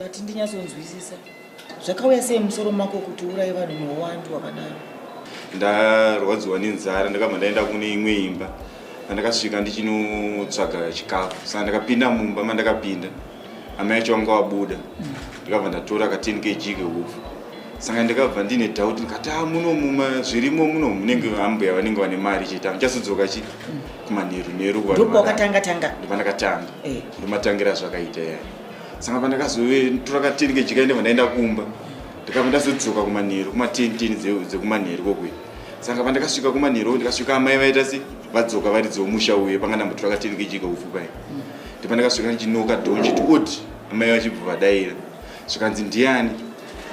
Vati ndinyatsonzwisisa zvakauya sei musoro mako kuti urai vanhu neuwandu wakadaro. Ndarwadziwa nenzara ndakabva ndaenda kune imwe imba andakasvika ndichinotsvaga chikafu saka ndakapinda mumba mandakapinda amai yacho vanga vabuda ndikabva ndatora ka 10 kg keufu saka ndikabva ndine doubt ndikati ah muno muma zvirimo muno munenge ambuya vanenge vane mari chete amuchasodzoka chi kumanheru nheru ndopakatanga tanga ndopandakatanga eh. ndomatangira zvakaita yaya saka pandakazotora kateni kejikaende vandaenda kumba ndikabva ndazodzoka kumanheru kumatenteni dzekumanheru kokuya saka pandakasvika kumanheru ndikasvika amai vaita se vadzoka vari dzomusha uye panga ndambotora kateni kejika ufu pai ndipo ndakasvika ndichinoka dhonji ti od amai vachibva vadaira zvikanzi ndiani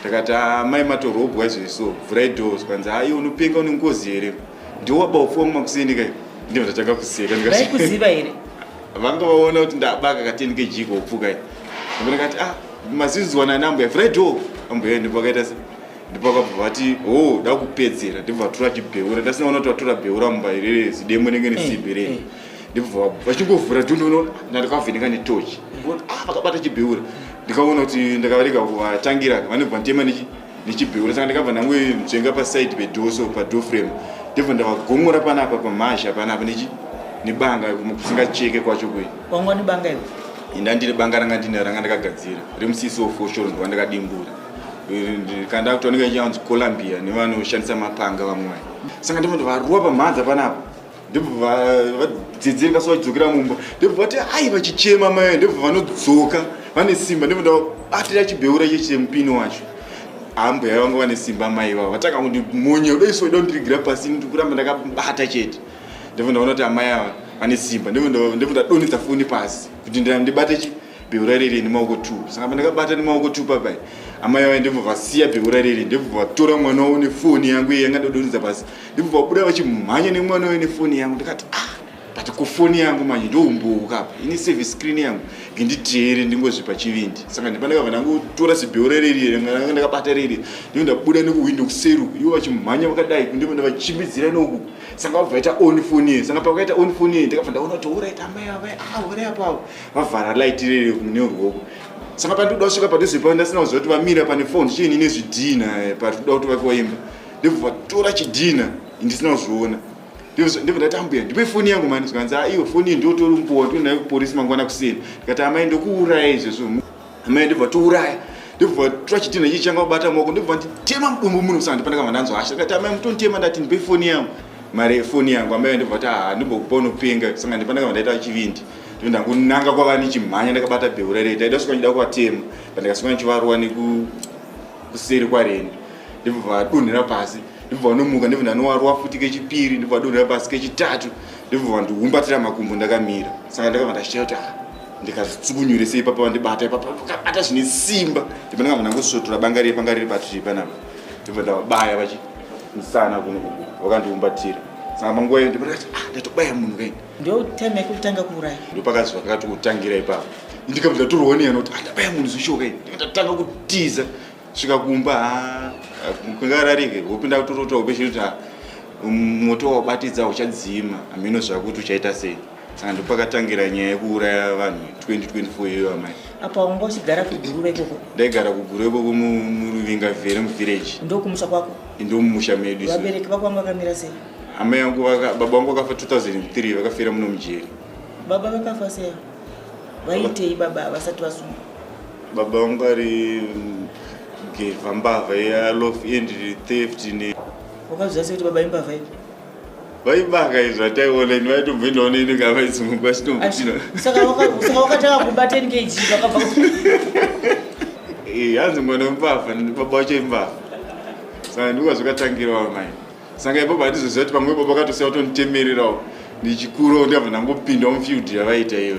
ndakati amai ah, matorobwa izvoi so vhurai do zvikanzi aiwe ah, unopenga une ngozi here ndiwo wabaufuwa mumakuseni kai ndinototanga kuseka ndikaaikuziva here vanga vaona kuti ndabaka ka 10 kg kopfuka i ambuya kati ah mazizwa nani ambuya vhurai door ambuya ndipo akaita se ndipo akabva vati oh dakupedzera ndipo vatura chibheura ndasina ona kuti vatura bheura mumba irere zidemo nenge nesimbi rei eh. ndibva vachingovhura dhu ndinoona ndandikavheneka netochi ah vakabata chibheura ndikaona kuti ndakavarega kuvatangira vanobva nditema nechi ndichibheura saka ndakabva ndangojenga paside pedoor so padoor frame ndibva ndavagomora panapa pamhazha panapa nebanga kusingacheke kwacho kuyi wanga une banga iro inda ndiri banga ranga ndine ranga ndakagadzira remusisi wofoshoro ndova ndakadimbura kanda kuti vanenge vachinzi columbia nevanoshandisa mapanga vamwai saka ndimoti varuwa pamhanza panapa ndobva vadzidzirika so vachidzokera mumba ndobva vati ai vachichema mai ndobva vanodzoka vane simba ndobva ndabatira chibheura icho chemupini wacho hambuya vangu vane simba mai vavo vatanga kuti monye udoiso uda kundirigira pasi ndikuramba ndakabata chete ndobva ndaona kuti amai ava vane simba ndobva ndadonhedza foni pasi kuti ndibate beura riri nemaoko two saka pandakabata nemaoko two papai amai vaye ndibva vasiya beura riri ndibva vatora mwana wavo nefoni yangu iye yanga ndodonidza pasi ndibva vabuda vachimhanya nemwana waye nefoni yangu ndikati ah but kufoni yangu manje ndoumbouka apa ini save screen yangu ndinditeere ndingozvipa chivindi saka ndipandakabva ndangotora zibeura riri ranga ndakabata riri ndiko ndabuda nekuhwindo kuseru ivo vachimhanya vakadai ndiko ndavachimbidzira noku sanga vabva vaita on foni ye sanga pavakaita on foni ye ndakabva ndaona kuti orit amai avai ah uri apavo vavhara light riri kune ruoko saka pandikuda kusvika padhuze pavo ndasina kuziva kuti vamira pane fon chiini nezvidhina eh, pari kuda kuti vake vaimba ndibva vatora chidhina ndisina kuzviona ndibva ndati ambuya ndipe foni yangu mani zvikanzi aiwe ah, foni iyi ndiotori mupowa ndionayo kuporisi mangwana kuseni ndikati amai ndokuuraya izvezvo amai ndibva touraya ndibva tora chidhina chii changa kubata maoko ndibva nditema mudumbu muno kusana ndipana kama ndanzwa hasha ndikati amai mutonditema ndati ndipe foni yangu mari yefoni yangu amai ndibva kuti haa ah, ndimbokupa unopenga sanga ndipana kama ndaita chivindi ndoenda kunanga kwava ndichimhanya ndakabata bhehu rareta ida kusvika ndida kuvatema but ndikasvika ndichivarova nekuseri kwareni ndibva vadonhera pasi ndibva vanomuka ndibva ndanovarova futi kechipiri ndibva vadonhera pasi kechitatu ndibva vandiumbatira makumbo ndakamira saka ndakabva ndachita kuti ah, ndikazitsukunyure sei papa vandibata ipapa vakabata zvine simba ndibva ndakabva ndangosvotora banga riye panga riri patiri panapa ndibva ndavabaya vachimusana kuno vakandiumbatira saka manguva iyo ndibva ndakati ah, ndatobaya munhu kaini ndotime yekutanga kuuraya ndopakazi vakati kutangira ipapo ndikabva ndatorwa niyana kuti andabaya ah, munhu zvishoka i ndatanga kutiza svika kumba ah, kungararike hope ndakutorota hope chiri kuti ah, um, moto wabatidza uchadzima hameno zvakuti uchaita sei saka ndopakatangira nyaya yekuuraya vanhu 2024 iyoyo amai apa wanga uchigara kuguruva ikoko ndaigara kuguruva ikoko muruvinga vhere muvillage ndokumusha kwako ndomumusha medu vabereki vako vanga vakamira sei Amai yangu vaka baba wangu vakafa 2003 vakafira muno mujeri. Baba vakafa sei? Vaitei baba vasati vasungwa? Baba wangu ari geva mbavha ya lof end theft ne. Wakazviziva sei kuti baba imbavha ipi? vaibaka izvo ataiona ini vaitobva indaona ini ka vaisumuka vachitomutinasaka wakatanga kuba 10 kg vakabva hanzi mwana wembavha baba wacho imbavha saka ndiko zvakatangira wamai saka ipapo handizoziva kuti pamwe ipapo akatosiya kutonditemererawo ndichikurawo ndiyabva ndangopindawo mufield yavaita iyo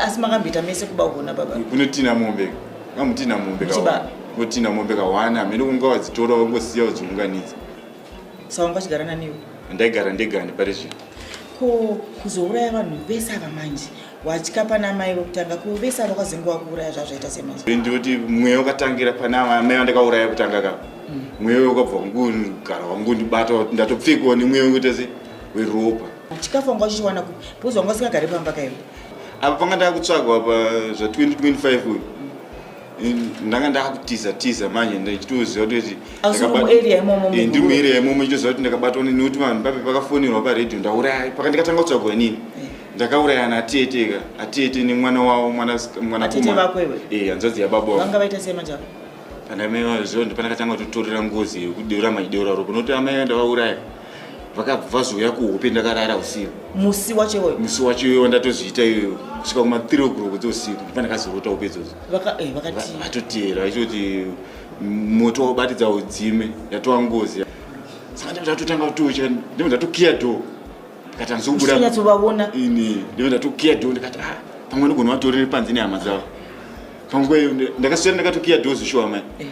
asi makamboita mese kuba kugona baba kunotina mombe kambotina mombe kunotina mombe kawana hamene kunga wadzitora wangosiya wadziunganidza sa wanga wachigara naniwo ndaigara ndegani pari zvino ko kuzouraya vanhu vese ava manje watya pana amai vokutanga kuvesa vakazenge wakuuraya zvazvaita semanje ndoti mweya wakatangira pana amai vandakauraya kutanga ka mm. mweya uyo ukabva kungugara wangundibata ndatopfekiwa nemweya wekuita se weropa chikafu wanga uchichiwana ku because wanga usingagari pamba kaivo apa panga ndakutsvagwa pa zva 2025 uyu ndanga ndakutiza tiza manje ndichitoziva kuti eh, ndiri muarea imomo ndichitoziva kuti ndakabatwa nekuti vanhu papi pakafonerwa paradio ndauraya pakandikatanga kutsvagwa inini eh. ndakauraya na tete ka atete nemwana wavo mwana mwana kuma vako iwe eh hanzvadzi ya baba vanga vaita sei manje kana mai vazvo ndipana katanga kutorera ngozi yekudeura maidora ro kunoti amai vaenda vauraya vakabva vazouya kuhope ndakarara usiku musi wacho iwoyo musi wacho iwoyo ndatozviita iyoyo kusvika kuma 3 o'clock dzeusiku ndipana kazorota upe idzodzo eh, vatoteera vachitoti moto wabatidza udzime yatova ngozi saka ndatotanga kutocha ndimwe ndatokiya doo ndikatanzoubudaatsovaona ini ndive ndatokiya do ndikati ah pamwe nogona vatorere panze nehama dzavo pamwe ndakasvera ndakatokiya do zvishuwa mai eh.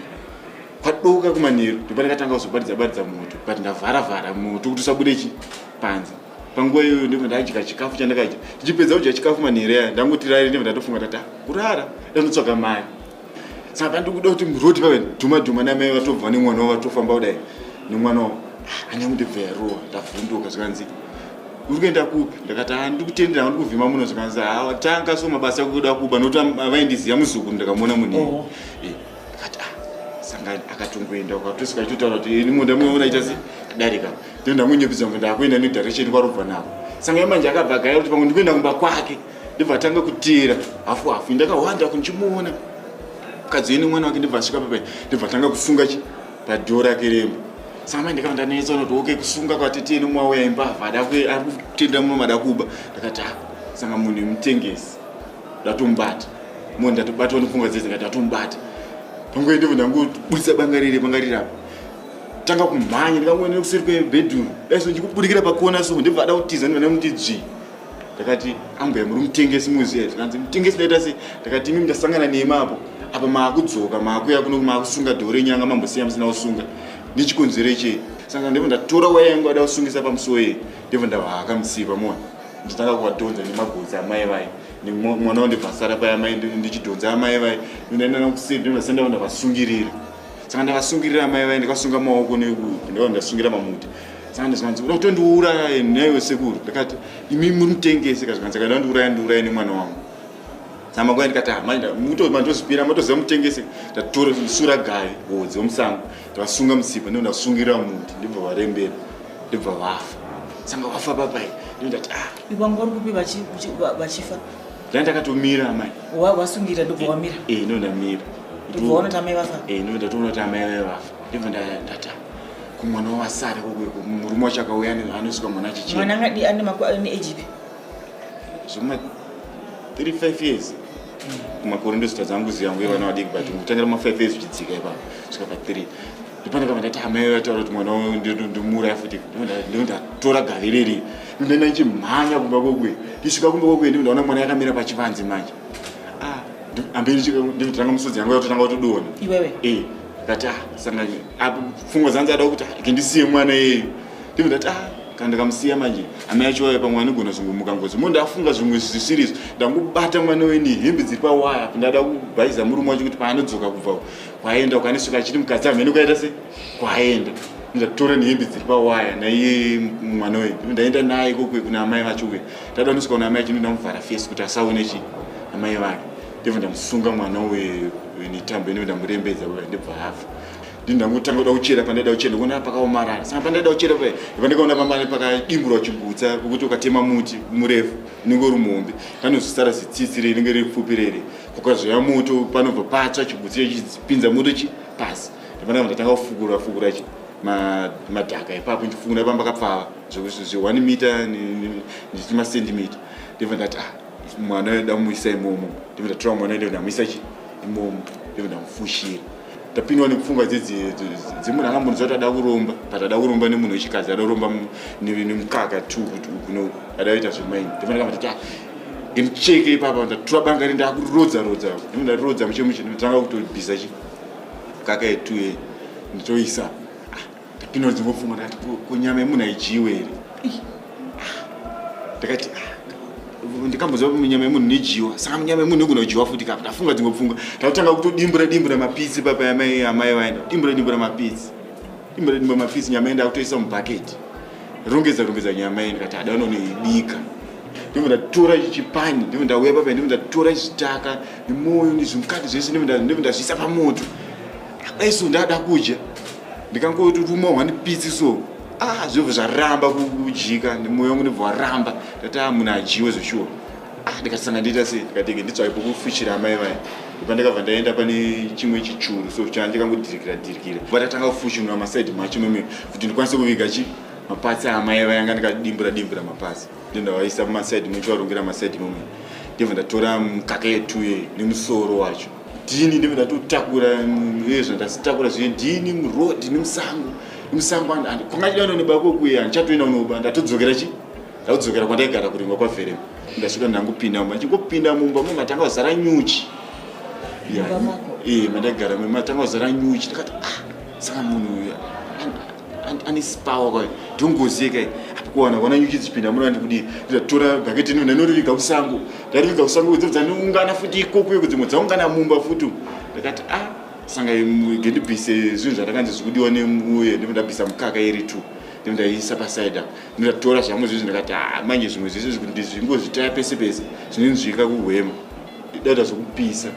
kwadoka kumanheru ndopa ndakatanga kuzobaridza baridza moto but ndavhara vhara moto kuti usabude chi panze panguva iyoyo ndibva ndadya chikafu chandakadya ndichipedza kudya chikafu manhereya ndangotirari ndibva ndatofunga tata ah, kurara ndandotsvaga mari saka ndikuda kuti muroti vave dhuma dhuma namai vatobva nemwana wavo vatofamba kudai nemwana wavo ah, anyamudebva yarowa ndavhunduka zvikanzi uri kuenda kupi ndakati ha ah, ndiri kutendera ha ndiri kuvhima muno zvikanzi ha ah, tanga so mabasa ekuda kuba nokuti avaindiziva muzukuru ndakamuona munini oh. eh, ndakati a sangani akatongoenda ukatosuka achitotaura kuti ini munda muona aita se adarika ndoendamunyepedza munda akuenda nedirection kwarobva navo sangani manje akabva gaya kuti pamwe ndikuenda kumba kwake ndibva atanga kutiira hafu hafu ndakahwanda kundichimuona mukadzi yeni mwana wake ndibva asvika papai ndibva atanga kusunga chi padhoo rake remba samai ndikava ndanetsa unoti oke kusunga kwatete yeni mwauya imbavha ada ari kutenda muno mada kuba ndakati ha ah, sanga munhu yemutengesi ndatomubata munhu ndatobatwa nepfungwa dzese ndikati ndatomubata panguva ndibva ndangobudisa banga riri banga riri apa tanga kumhanya ndikangoenda kuseri kwebedroom daiso ndikubudikira pakona so ndibva ada kutiza ndibva ndamuti dzvii ndakati ambuya muri mutengesi muziya zvikanzi mutengesi ndaita sei ndakati imimi ndasangana nemi apo apa maakudzoka maakuya kuno maakusunga dhoo renyanga mambosiya musina kusunga nechikonzero chei saka ndibva ndatora waya yangu ada kusungisa pamusuwo yei ndibva ndavahaka musiva mona nditanga kuvadhonza nemagodzi amai vai nemwana wandibva asara paya mai ndichidhonza amai vai ndaendana kuseri ndibva sendava ndavasungirira saka ndakasungirira mai vaye ndikasunga maoko nekupi ndava ndasungira mamuti saka ndizvanzi uda kutondiuraya naiwe sekuru ndikati imi muri mutengese ka zvikanzi kaida ndiuraya ndiuraya nemwana wangu saka makwai ndikati ah, hamandozipira matoziva mutengese tatora sura gaye hodzi wemusango tavasunga musipa ndivo ndasungirira muti ndibva varembera ndibva vafa sanga vafa papai ndindati ah. ivangori kupi vachifa Ndanga ndakatomira amai. Wa wasungira ndobva wamira. Eh, eh no ndamira. Ndobva ona tamai vafa. Eh no ndatoona tamai vave vafa. Ndibva ndata. Kumwana wavasara kokwe murume wacho akauya anosvika mwana achichema. Mwana ngadi ane makwa ane age ipi? Zvima 35 years. Mm. Kumakore ndosita dzangu ziyangu yevana vadiki but kutangira ma 5 years zvichidzika ipapo. Svika pa 3. ndipane kamwe ndati amai vataura kuti mwana uyu ndinomuuraya futi ndondatora gari riri ndondaenda ndichimhanya kumba kwokwe ndisvika kumba kwokwe ndiko ndaona mwana yakamira pachivanze manje ah, amberi ndikutanga musodzi yangu yatotanga kutodona iwewe eh, ndati ah, sangani ah, pfungwa dzanzi ada kuti kendisiye mwana iyeyu ndiko ndati ah kana ndikamusiya manje hama yacho waya pamwe anogona zvongomuka ngozi mo ndafunga zvimwe zvisiri izvo ndangobata mwana weni hembe dziri pawaya ndada kubhaiza murume wacho kuti paanodzoka kubva kwaenda ukanisvika achiti mukadzi amhene ukaita se kwaenda ndatora nehembe dziri pawaya naiye mwana uyu ndaenda naye kokwe kuna amai vacho uye ndada nosvika kuna amai acho ndamuvhara fesi kuti asaone chi amai vake ndibva ndamusunga mwana uyu netambo ino ndamurembedza uya ndibva afa ndini ndangotanga kuda kuchera pandaida kuchera kuona pakaomarara saka pandaida kuchera paya iva ndikaona pamane pakadimburwa chigutsa pokuti ukatema muti murefu unenge uri muhombe kanozosara zitsitsi reinenge riri pfupi rere Kukazoya moto panobva patsva chigutsi chipinza moto chi pasi. Ndipana ndatanga kufukura fukura chi madhaka ipapo ndichifukura pamba kapfava zvekuti zve 1 meter ndichiti masentimeter ndibva ndati ah mwana uyo damuisa imomo ndibva ndatora mwana uyo ndamuisa chi imomo ndibva ndamufushira tapindwa nepfungwa dzemunhu angambonzi kuti ada kuromba but ada kuromba nemunhu wechikadzi ada kuromba nemukaka t kuti ukuno ada kuita zvemaini ndofanira kama tati ndimucheke ipapa ndatura banga ri ndakurodza rodza ndakurodza muchemuche ndotanga kutobhiza chi kaka yetu ye ndotoisa Inonzi ngofunga ndati kunyama yemunhu haidyiwe here? Ndakati ah, ndikamboziva kuti munyama yemunhu nidyiwa saka munyama yemunhu igona kudyiwa futi kapa ndafunga dzimwe pfungwa ndakutanga kutodimbura dimbura mapitsi papa yamai amai vaenda dimbura dimbura mapitsi dimbura dimbura mapitsi nyama yenda akutoisa mubhaketi rongedza rongedza nyama yenda kati ada unonoibika ndimbo ndatora chipani ndimbo ndauya papa ndimbo ndatora chitaka nemoyo nezvimukati zvese ndimbo ndazviisa pamoto aiso ndada kudya ndikangotumwa one piece so ah zvobva zvaramba kudyika nemoyo wangu ndobva waramba ndati a ah, munhu adyiwe zveshuwa ah ndikasanga ndiita sei ndikatenge nditsvake pokufuchira amai vaya ipa ndikabva ndaenda pane chimwe chichuru so chana ndikangodirikira dirikira va tatanga kufuchinura masaidi macho meme kuti ndikwanise kuviga chi mapatsi aamai vaya anga ndikadimbura dimbura mapatsi ndondavaisa mumasaidi muchivarongera masaidi mome ndibva ndatora mukaka yetuye nemusoro wacho ndini ndive ndatotakura zviye zvandasitakura zviye ndini muroad nemusango nemusango and kwangachida uno nebako kuye andichatoenda unoba ndatodzokera chi ndatodzokera kwandaigara kurimwa kwaverema ndasvika ndangopinda mumba ndichingopinda mumba mwe matanga kuzara nyuchi mandaigara mwe matanga kuzara nyuchi ndakati ah saka munhu uya anispawa kwayo ndongozi yeka apa kuwana kuona nyuchi dzichipinda muno andikudii ndatora bhaketi ino ndainoriviga kusango ndairiviga kusango kudzi dzanoungana futi ikokuyo kudzimwe dzaungana mumba futi ndakati a ah, sanga gendibvise zvinhu zvandakanzi zvikudiwa nemuye ndipo ndabvisa mukaka iri two ndipo ndaiisa pasaidi apo ndatora zvangu zvizvi ndakati a ah, manje zvimwe zvese zvikuti ndizvingozvitaya pese pese zvinenzvika kuhwema dada zvokupisa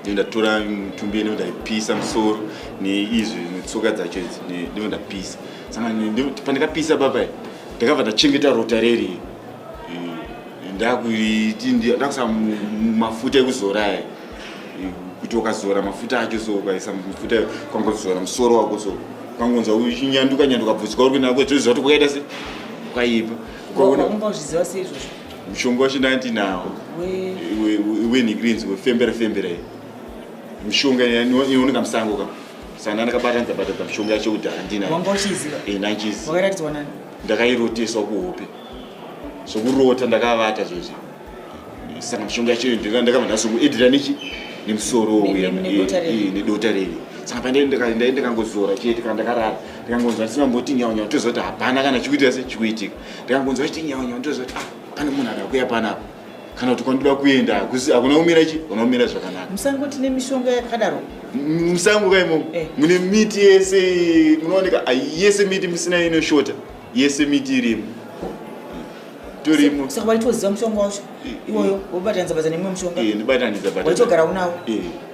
ndatora mitumbi ino ndaipisa musoro neizvi netsoka dzacho idzi ndivo ndapisa saka pandakapisa baba ndakabva ndachengeta rota reri eh, ndakuiti ndakusa mafuta ekuzora aya eh, kuti ukazora mafuta acho so ukaisa mafuta kwangozora musoro wako so kwangonza uchinyanduka nyanduka bvudzi kwauri kuenda kwezvoziva kuti kwakaita se kwaipa kwaona umbozviziva seizvozvo mushonga wacho ndandi nawo wenhikrinzi wefembera fembera iyi mishonga inooneka musango ka saka ndandakabatanidza batanidza mishonga yacho kudhara ndinayoandichiziva ndakairoteswa kuhope zvokurota ndakavata zvozvo saka mishonga yacho ndakabva ndazokuedira nechi nemusoro uya nedota riri saka pandaendekangozora chete kana ndakarara ndikangonzwa ndisina mboti nyaunyau toziva kuti hapana kana chikuitika se chikuitika ndikangonzwa chiti nyawa nyawa ndoziva kuti ah, pane munhu ada kuya panapa kana kuti kwandoda kuenda hakuna kumira chi kuna kumira zvakanaka musango tine mishonga yakadaro musango ka imomo eh. mune miti yese munooneka ah, yese miti musina inoshota yese miti irimo torimo saka waitoziva mushonga wacho eh, iwoyo eh. wobatanidza badza nemumwe mushonga ndibatanidza badza waitogara unawo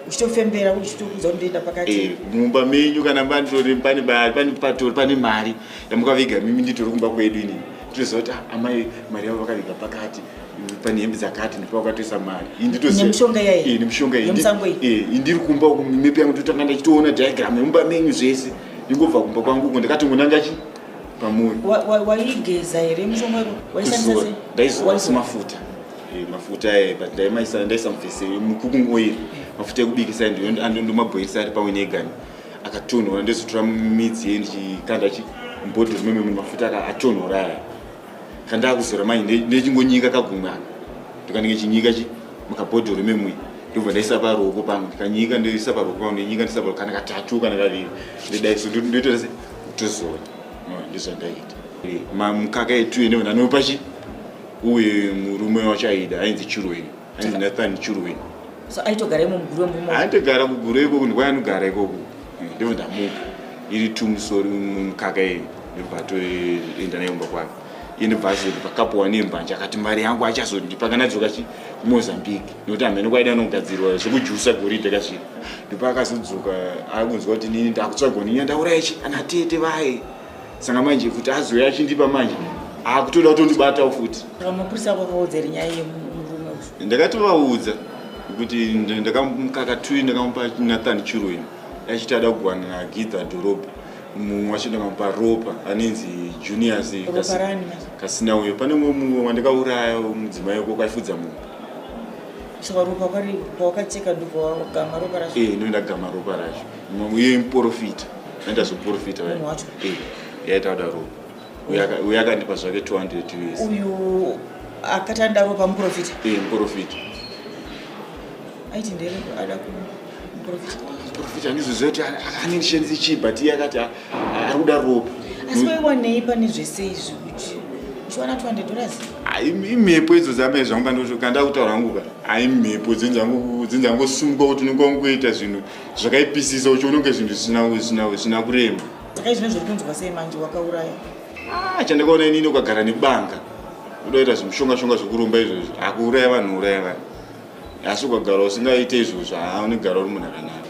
uchitofembera uchitokuza kuti ndoenda pakati mumba menyu kana pane mari ndamukaviga mimi nditori kumba kwedu ini tinoziva kuti ah, amai mari yavo vakaviga pakati pane hembe dzakati ndipo vakatoisa mari inditozivanemishonga eh, eh, indiri kumba uku mipi yangu ndotanga ndachitoona diagram yemumba menyu zvese ndingobva kumba kwangu uko ndakatongonanga chi pamuri waigeza here mushonga waishandisa ndaizoasi mafuta eh, mafuta aye but ndaimaisa ndaisamufese mukukungoiri mafuta ekubikisa ndomabhoirisa ari pamwe negani akatonhora ndozotora midzi ye ndichikanda chibhodhoro meme mune mafuta aka atonhora aya kandakuzora mai ndechingonyika kagumwe aka ndikanenge chinyika chi mukabhodhoro memwe ndobva ndaisa paruoko pangu ndikanyika ndoisa paruoko pangu ndinyika ndisa paruoko kana katatu kana kaviri ndodaiso ndotoita se kutozora ndozvandaita eh, mamukaka etuye nevana anopa chi uye murume wacho aida ainzi churweni hanzi nathan churwin so aitogara imo muguru wemumo aitogara kuguru ikoku ndikwa anogara ikoku eh, ndibva ndamupa iri tumusori mukaka iyi ndibva atoenda nayo mba kwake iye ndibva azoti pakapuwa nembanje akati mari yangu achazondipa kana dzoka chi kumozambique nokuti hamene kwaida anogadzirwa zvekujusa goridhe kazviri ndipo akazodzoka akunzwa kuti nini ndakutsvagwa ninya ndaura ichi anatete vaye saka manje kuti azouya achindipa manje akutoda kutondibatawo futi mapurisa ako akaudza iri nyaya yemurume uyu ndakatovaudza kuti nd- ndakamukakatui ndakamupa nathan chiroin achiti ada kugwana nagidha dhorobha mumwe wacho ndakamupa ropa anenzi juniors ropa Kasi- rani manje kasina uyo pane umwe mumwe wandakauraya mudzimai weko kwaifudza mumwe saka ropa kwari pawakacheka ndokwawagamha ropa racho ee ndoendagama ropa racho uye muporofita aenda zvoporofita eh, yaita kudaro uye akandipa zvake 200 us uyu akati andaro pamuporofita e eh, muporofita aiti ndere ada kumuporofita muporofita andizoziva kuti anendishandise chii but iye akati ari kuda ropa asi waiwanei pane zvese izvi kuti uchiwana 200 dollars imhepo idzo dzamai zvangu kandakutaura hangu ka aimhepo dzinzangosumuka kuti unenge wangoita zvinhu zvakaipisisa uchiona kunge zvinhu zvisina kurema saka izvino zviri kunzwa sei manje wakauraya ah, chandakaona inini ukagara nebanga udaita zvimushongashonga zvekuromba izvozvo akuuraya vanhu uraya vanhu asi ukagara usingaite izvozvo haa unegara uri munhu akanaka